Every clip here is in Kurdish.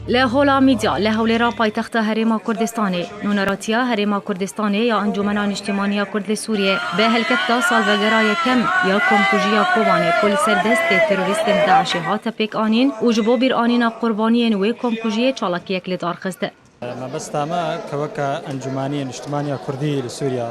Li Hola Mîdya li Hewlêra paytexta Herêma Kurdistanê, Nûneratiya Herêma Kurdistanê ya Encûmena Niştîmaniya Kurd li Sûriyê bi hilkefta salvegera yekem ya komkujiya Kobanê ku li ser destê terorîstên DAIŞ'ê hate pêkanîn û ji bo bîranîna qurbaniyên wê komkujiyê çalakiyek lidarxist. Mebesta me ke weke Encûmanî Niştimanî ya Kurdî li Sûriye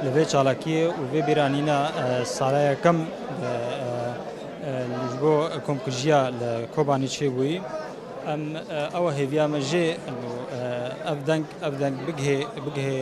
li vê çalakî û vê bîranîna sala yekem ji bo komkujiya li Kobanî çêbûyî em ew e hêviya me jê û ev deng ev deng bigihê bigihê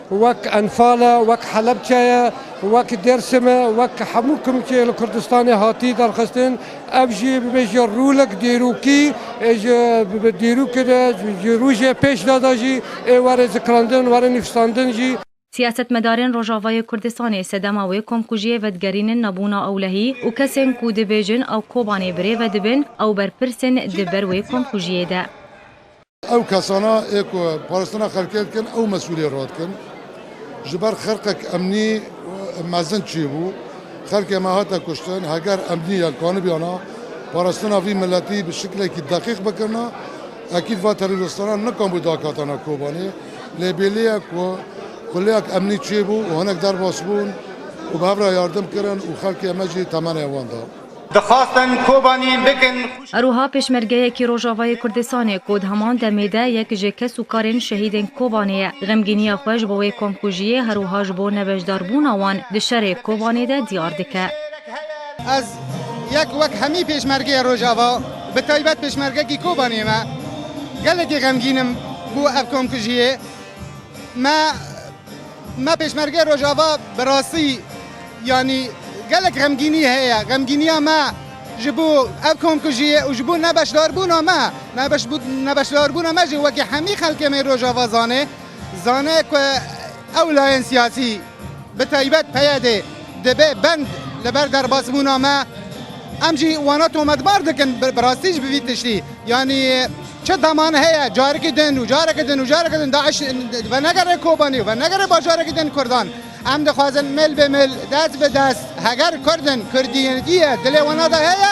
wek Enfal e, wek Helebçe ye, wek Dêrsim e, wek hemû kumkê li Kurdistanê hatî derxistin, ev jî bibêje rûlik dîrokî ê ji dîrokê de ji rojê pêş de de jî ê were zikrandin, were nivîsandin jî. Siyasetmedarên Rojavayê Kurdistanê sedema wê komkujiyê vedigerînin nebûna ewlehî û kesên ku dibêjin ew Kobanê birêve dibin ew berpirsên di ber wê komkujiyê de. Ew kesana ê ku parastina xelkê dikin ew mesûliyê ra dikin. Ji ber xirqek emnî mezin çîbû, xelkê me hate kuştin. Heger emnî yan kanibiyana parastina vî miletî bi şiklekî deqîq bikirina, ekîd va terorîstanan nikambû dakatana Kobanê. Lê bêlî ye ku xuleyek emnî çêbû û hinek derbas bûn û bi hev re yardim kirin û xelkê me jî temenê wan da. Dixwastin Kobanî bikin xwişk. Herwiha pêşmergeyekî Rojavayê Kurdistanê ku di heman demê de yek ji kes û karên şehîdên Kobanê ye, xemgîniya xwe ji bo wê komkujiyê herwiha ji bo nebeşdarbûna wan di şerê Kobanê de diyar dike. Ez yek wek hemî pêşmergeya Rojava bi taybet pêşmergekî Kobanê me gelekî xemgîn im ku ev komkujiyê me, Me Pêşmergeyê Rojava bi rastî yanî gelek xemgînî heye. Xemgîniya me ji bo ev komkujiyê û ji bo nebeşdarbûna me. Nebeşdarbûna me jî wekî hemî xelkê me Rojava zanê, zane ku ew layên siyasî bi taybet PYDê, Dibe bend li ber derbasbûna me. Em jî wana tometbar dikin bi rastî ji bi vî tiştî. Yanî çi deman heye carekî din û carekî din û carekî din DAIŞ venegere Kobanî û venegere bajarekî din Kurdan. Em dixwazin mil bi mil, dest bi dest heger Kurd in, kurdiyetiye dilê wana de heye,